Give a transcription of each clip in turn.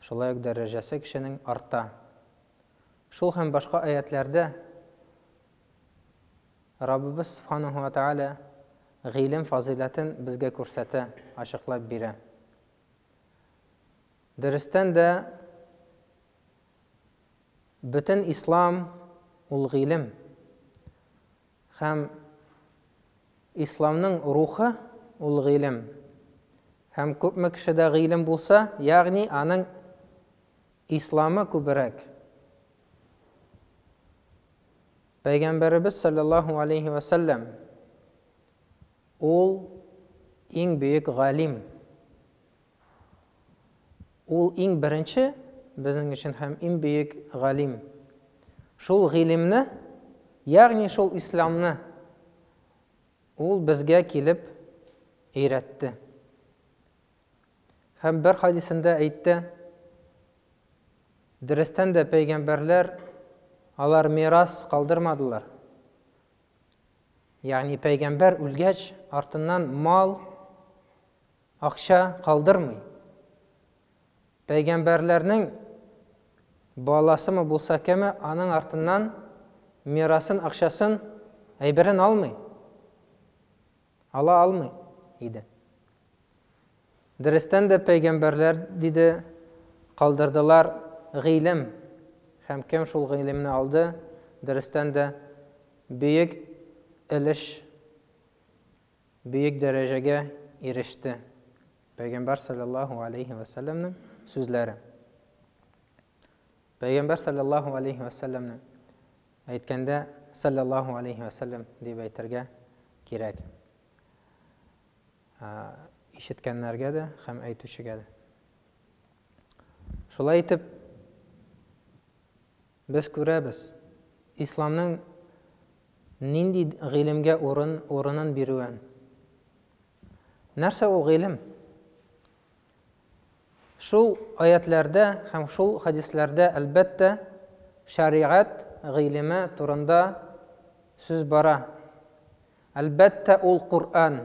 Шулай ук дәрәҗәсе кешенең арта. Шул һәм башка аятьләрдә Раббыбыз Субханаһу ва Тәгалә гыйлем фазыйләтен безгә күрсәтә, ачыклап бирә. Дөрестән дә, бөтен ислам ул гыйлем. Һәм Исламның рухы, ул гыйлем. Һәм күпме кешедә гыйлем булса, ягъни аның Исламы күбрәк. Пәйгамбәребез саллаллаһу алейһи вә сәлләм ул иң бөек галим. Ул иң беренче безнең өчен һәм иң бөек галим. Шул гыйлемне, ягъни шул исламны ул безгә килеп өйрәтте. Һәм бер хадисендә әйтте, дөрестән дә пәйгамбәрләр алар мирас калдырмадылар. Ягъни пәйгамбәр үлгәч, артыннан мал, Акча калдырмый. Пәйгамбәрләрнең баласымы булса кеме, аның артыннан мирасын, акчасын, әйберен алмый. Ала алмый иде. Дөрестән дә пәйгамбәрләр диде, калдырдылар гыйлем. Һәм кем шул гыйлемне алды? Дөрестән дә бөек өлеш бөек дәрәҗәгә иреште. Пәйгамбәр саллаллаһу алейхи ва сәлләмнең сүзләре. Пәйгамбәр саллаллаһу алейхи ва сәлләмнең әйткәндә саллаллаһу алейхи ва сәлләм дип әйтергә кирәк. Ишеткәннәргә дә һәм әйтүчегә дә. Шулай итеп, Без күрәбез, исламның нинди гыйлемгә урын, урынын бирүен. Нәрсә ул гыйлем? Шул аятьләрдә һәм шул хәдисләрдә, әлбәттә, шәригать гыйлеме турында сүз бара. Әлбәттә, ул Коръән.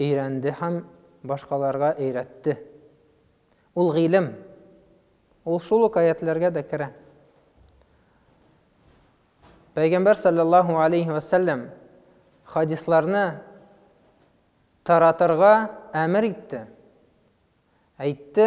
Өйрәнде һәм башкаларга өйрәтте. Ул гыйлем. Ул шул ук аятьләргә дә керә. Пәйгамбәр саллаллаһу алейһи вә сәлләм хадисларны таратырга әмер итте. Әйтте,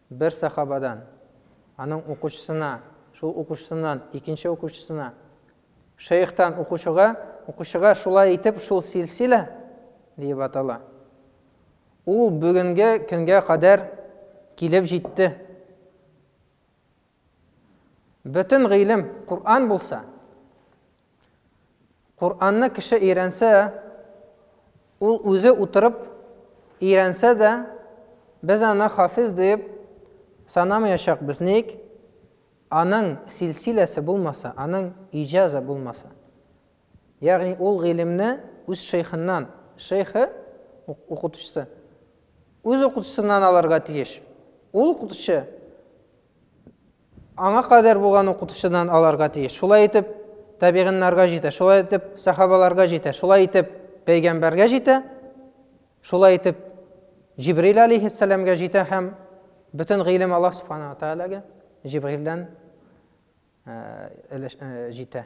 Бер сахабадан, аның укучысына, шул укучысыннан, икенче укучысына, шәехтан укучыга, укучыга шулай итеп шул силсилә диеп атала. Ул бүгенге көнгә кадәр килеп җитте. Бөтен гыйлем Коръән булса, Коръәнне кеше өйрәнсә, ул үзе утырып өйрәнсә дә, без аны хафиз диеп санамаячакбыз. Ник? Аның силсиләсе булмаса, аның иҗазы булмаса. Ягъни ул гыйлемне үз шейхыннан, шейхы, укытучысы, үз укытучысыннан алырга тиеш. Ул укытучы Аңа кадәр булган укытучыдан аларга тиеш. Шулай итеп, табигиннарга җитә, шулай итеп, сәхабаларга җитә, шулай итеп, пәйгамбәргә җитә, шулай итеп, Җибрил алейһиссәламгә җитә һәм бөтен гыйлем Аллаһ субхана ва тәгаләгә Җибрилдән җитә.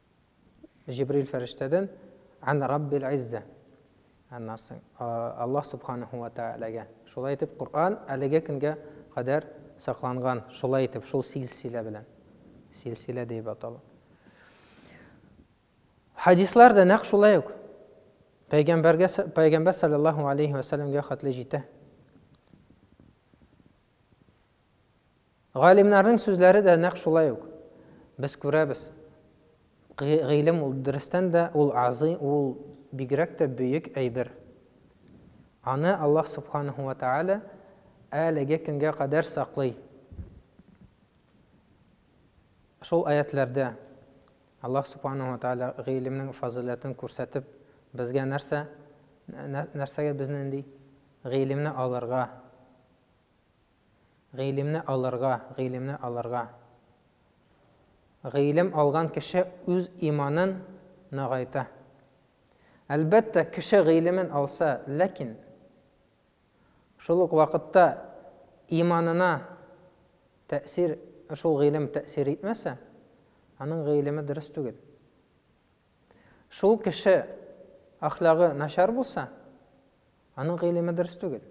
Җибрил фәрештәдән ан Раббил Изза. Аннан соң Аллаһ Субханаһу ва Тәгаләгә. Шулай итеп Коръән әлеге көнгә кадәр сакланган. Шулай итеп шул силсилә белән. Силсилә дип атала. Хадислар да нәкъ шулай ук пәйгамбәргә пәйгамбәр саллаллаһу алейхи ва саллямга хәтле җитә. Галимнарның сүзләре дә нәкъ шулай ук. Без күрәбез, гыйлем ул дөрестән дә ул азый, ул бигрәк тә бөек әйбер. Аны Аллаһ Субханаһу ва Тәгалә әлеге көнгә кадәр саклый. Шул аятьләрдә Аллаһ Субханаһу ва Тәгалә гыйлемнең фазыйләтен күрсәтеп, безгә нәрсә нәрсәгә безне нинди гыйлемне алырга Гыйлемне алырга, гыйлемне алырга. Гыйлем алган кеше үз иманын ныгайта. Әлбәттә, кеше гыйлемен алса, ләкин шул ук вакытта иманына тәэсир, шул гыйлем тәэсир итмәсә, аның гыйлеме дөрес түгел. Шул кеше ахлагы начар булса, аның гыйлеме дөрес түгел.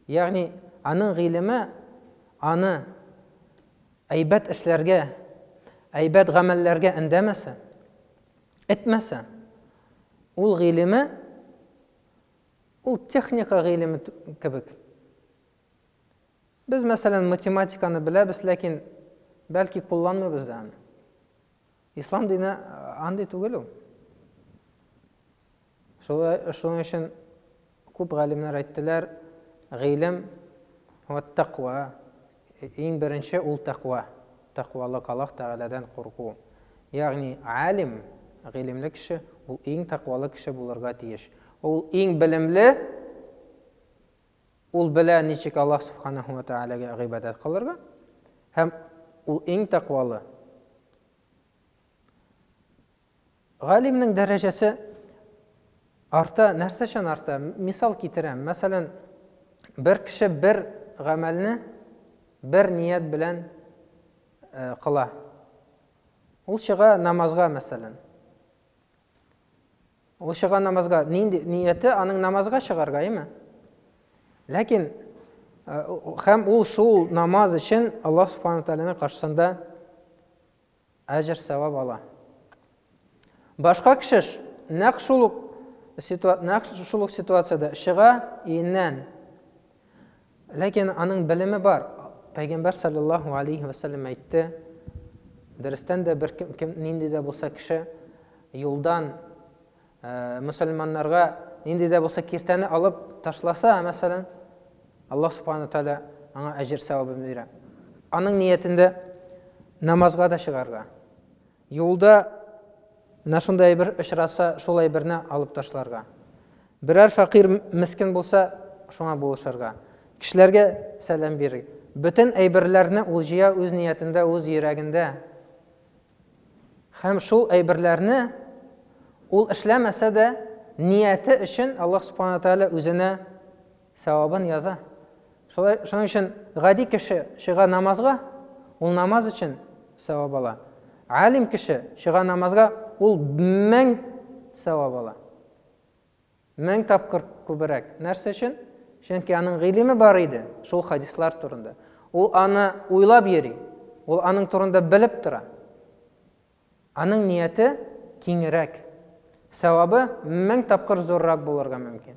Ягъни, аның гыйлеме аны әйбәт эшләргә, әйбәт гамәлләргә эндәмәсә, этмәсә, ул гыйлеме ул техника гыйлеме кебек. Без, мәсәлән, математиканы беләбез, ләкин бәлки кулланмыйбыз да аны. Ислам дине андый түгел ул. Шуның өчен күп галимнәр әйттеләр, гыйлем ва тәкъва, иң беренче ул тәкъва, тәкъвалык, Аллаһ Тәгаләдән курку. Ягъни алим, гыйлемле кеше, ул иң тәкъвалы кеше булырга тиеш. Ул иң белемле, Ул белә, ничек Аллаһ Сүбхәнәһү вә Тәгаләгә гыйбадәт кылырга, һәм ул иң тәкъвалы. Галимнең дәрәҗәсе арта, нәрсәчән арта? Мисал китерәм. Мәсәлән, бер кеше бер гамәлне бер ният белән э, кыла. Ул чыга намазга, мәсәлән. Ул чыга намазга, нинди нияте аның намазга чыгарга, әйме? Ләкин э, һәм ул шул намаз өчен Аллаһ Субхану Тааляның каршысында әҗр савап ала. Башка кеше нәкъ шул ук нәкъ шул ук ситуацияда чыга иеннән. Ләкин аның белеме бар. Пәйгамбәр салләллаһу галәйһи вә сәлләм әйтте, Дөрестән дә бер кем, нинди дә булса кеше, юлдан мөселманнарга нинди дә булса киртәне алып ташласа, мәсәлән, Аллаһ субхана ва тәгалә аңа әҗер сәвабын бирә. Аның ниятендә намазга да чыгарга, Юлда менә шундый әйбер очраса, шул әйберне алып ташларга. Берәр фәкыйрь, мескен булса, шуңа булышырга. Кешеләргә сәлам бирер. Бөтен әйберләрне ул җыя үз ниятендә, үз йөрәгендә. Һәм шул әйберләрне ул эшләмәсә дә, нияте өчен Аллаһ Субхана Тәгалә үзенә Сәвабын яза. Шулай, шуның өчен гади кеше чыга намазга, ул намаз өчен сәвап ала. Алим кеше чыга намазга, ул мең сәвап ала. Мең тапкыр күберәк. Нәрсә өчен? Чөнки аның гыйлеме бар иде, шул хадислар турында. Ул аны уйлап йөри, ул аның турында белеп тора. Аның нияте киңрәк. Сәвабы мең тапкыр зуррак булырга мөмкин.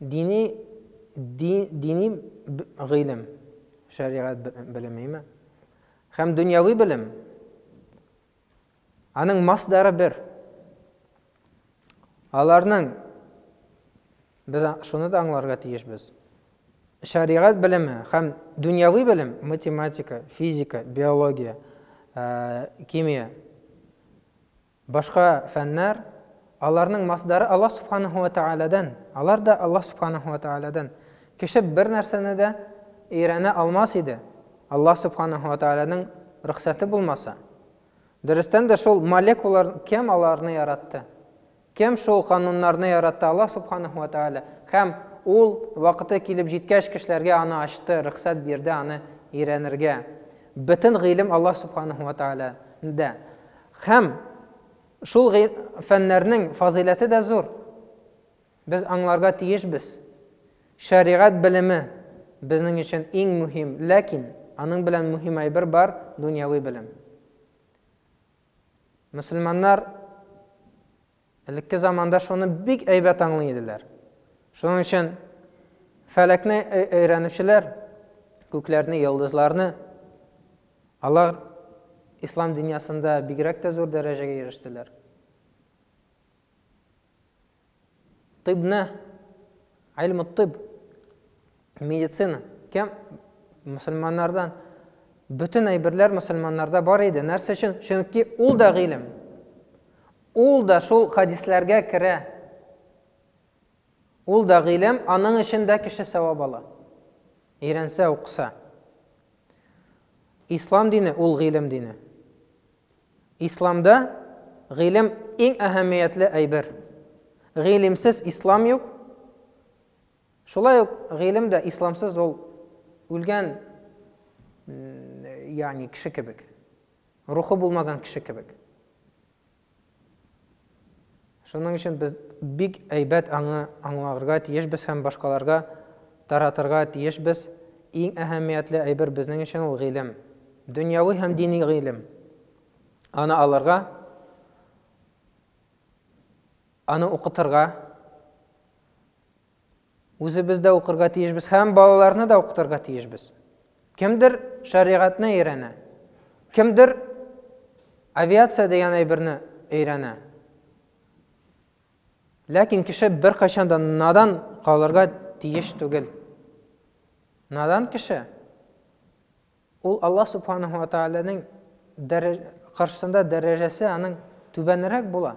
Дини дин, дини гыйлем, шәригать белемеме? Һәм дөньяви белем. Аның масдары бер. Аларның без шуны да аңларга тиешбез. Шәригать белеме һәм дөньяви белем, математика, физика, биология, химия, Башка фәннәр, аларның масдары Аллаһ Субханаһу вә Тәгаләдән, алар да Аллаһ Субханаһу вә Тәгаләдән. Кеше бер нәрсәне дә өйрәнә алмас иде, Аллаһ Субханаһу вә Тәгаләнең рөхсәте булмаса. Дөрестән дә шул молекулар кем аларны яратты? Кем шул кануннарны яратты? Аллаһ Субханаһу вә Тәгалә. Һәм Ул, вакыты килеп җиткәч, кешеләргә аны ачты, рөхсәт бирде аны өйрәнергә. Бөтен гыйлем Аллаһ Субханаһу вә Тәгаләдә. Һәм шул фәннәрнең фазыйләте дә зур. Без аңларга тиешбез. Шәригать белеме безнең өчен иң мөһим, ләкин аның белән мөһим әйбер бар, дөньяви белем. Мөселманнар Элекке заманда шуны бик әйбәт аңлый иделәр. Шуның өчен фәләкне өйрәнүчеләр, күкләрне, йолдызларны алар ислам дөньясында бигрәк тә зур дәрәҗәгә ирештеләр. Тибне, айлмы тиб, медицина кем мөселманнардан бөтен әйберләр мөселманнарда бар иде нәрсә өчен чөнки ул да гыйлем ул да шул хадисләргә керә ул да гыйлем аның өчен дә кеше сәвап ала өйрәнсә укыса ислам дине ул гыйлем дине исламда гыйлем иң әһәмиятле әйбер гыйлемсез ислам юк Шулай ук гыйлем дә исламсыз ул үлгән ягъни кеше кебек. Рухы булмаган кеше кебек. Шуның өчен без бик әйбәт аңы аңларга тиешбез һәм башкаларга таратырга тиешбез. Иң әһәмиятле әйбер безнең өчен ул гыйлем. Дөньяви һәм дини гыйлем. Аны алырга, аны укытырга, Үзебез дә укырга тиешбез һәм балаларны да укытырга тиешбез. Кемдер шәригатьне өйрәнә, кемдер авиация дигән әйберне өйрәнә. Ләкин кеше беркайчан да надан калырга тиеш түгел. Надан кеше ул Аллаһ субханаһу ва тааляның каршысында дәрәҗәсе аның түбәнрәк була.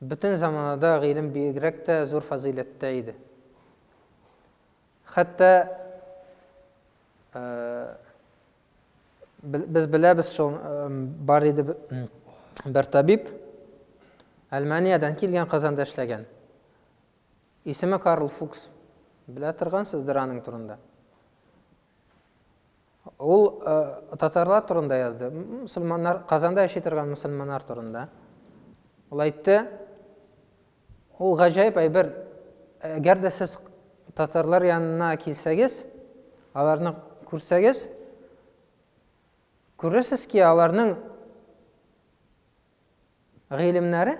Бөтен заманада гыйлем бигрәк тә зур фазыйләттә иде. Хәтта без беләбез шул бар иде бер табиб Әлмәниядән килгән Казанда эшләгән. Исеме Карл Фукс. Белә торгансыздыр аның турында. Ул татарлар турында язды, мусульманнар, Казанда яши торган мусульманнар турында. Ул әйтте, ул гаҗәеп әйбер, әгәр дә сез татарлар янына килсәгез, аларны күрсәгез, күрерсез ки, аларның гыйлемнәре,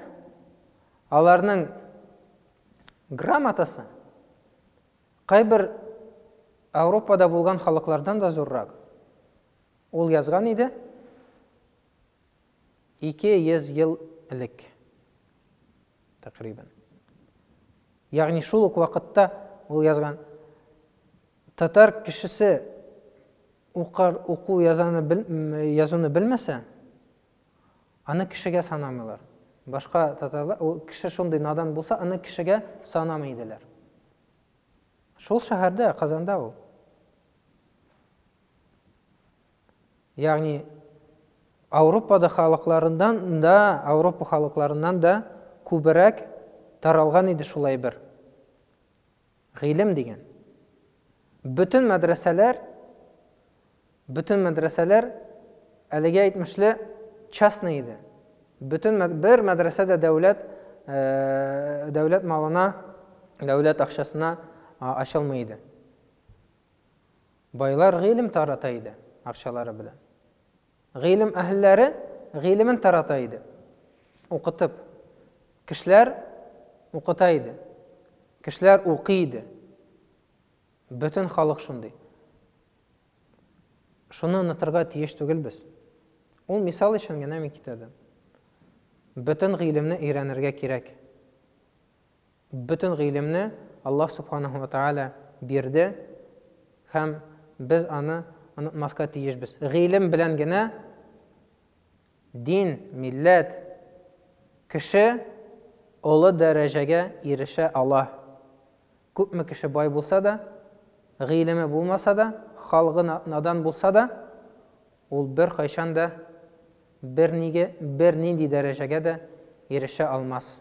аларның грамотасы кайбер Ауропада булган халыклардан да зуррак. Ул язган иде 200 ел элек тәкърибан. Ягъни шул ук вакытта ул язган татар кешесе укар уку язаны язуны белмәсә, Аны кешегә санамыйлар. Башка татарлар, ул кеше шундый надан булса, аны кешегә санамый иделәр. Шул шәһәрдә, Казанда ул. Ягъни Ауропада халыкларыннан да, Ауропа халыкларыннан да күберәк таралган иде шул әйбер. Гыйлем дигән. Бөтен мәдрәсәләр, бөтен мәдрәсәләр әлеге әйтмешле частный иде. Бөтен бер мәдрәсә дә дәүләт э, дәүләт малына, дәүләт акчасына ачылмый иде. Байлар гыйлем тарата иде акчалары белән. Гыйлем әһелләре гыйлемен тарата иде, укытып. Кешеләр укыта иде. Кешеләр укый иде. Бөтен халык шундый. Шуны онытырга тиеш түгел без. Ул мисал өчен генә мин китердем. Бөтен гыйлемне өйрәнергә кирәк. Бөтен гыйлемне Аллаһ Субханаһу ва Тәгалә бирде һәм без аны онытмаска тиешбез. Гыйлем белән генә дин, милләт, кеше олы дәрәҗәгә ирешә ала. Күпме кеше бай булса да, гыйлеме булмаса да, халгы надан булса да, ул беркайчан да бернинди дәрәҗәгә дә ирешә алмас.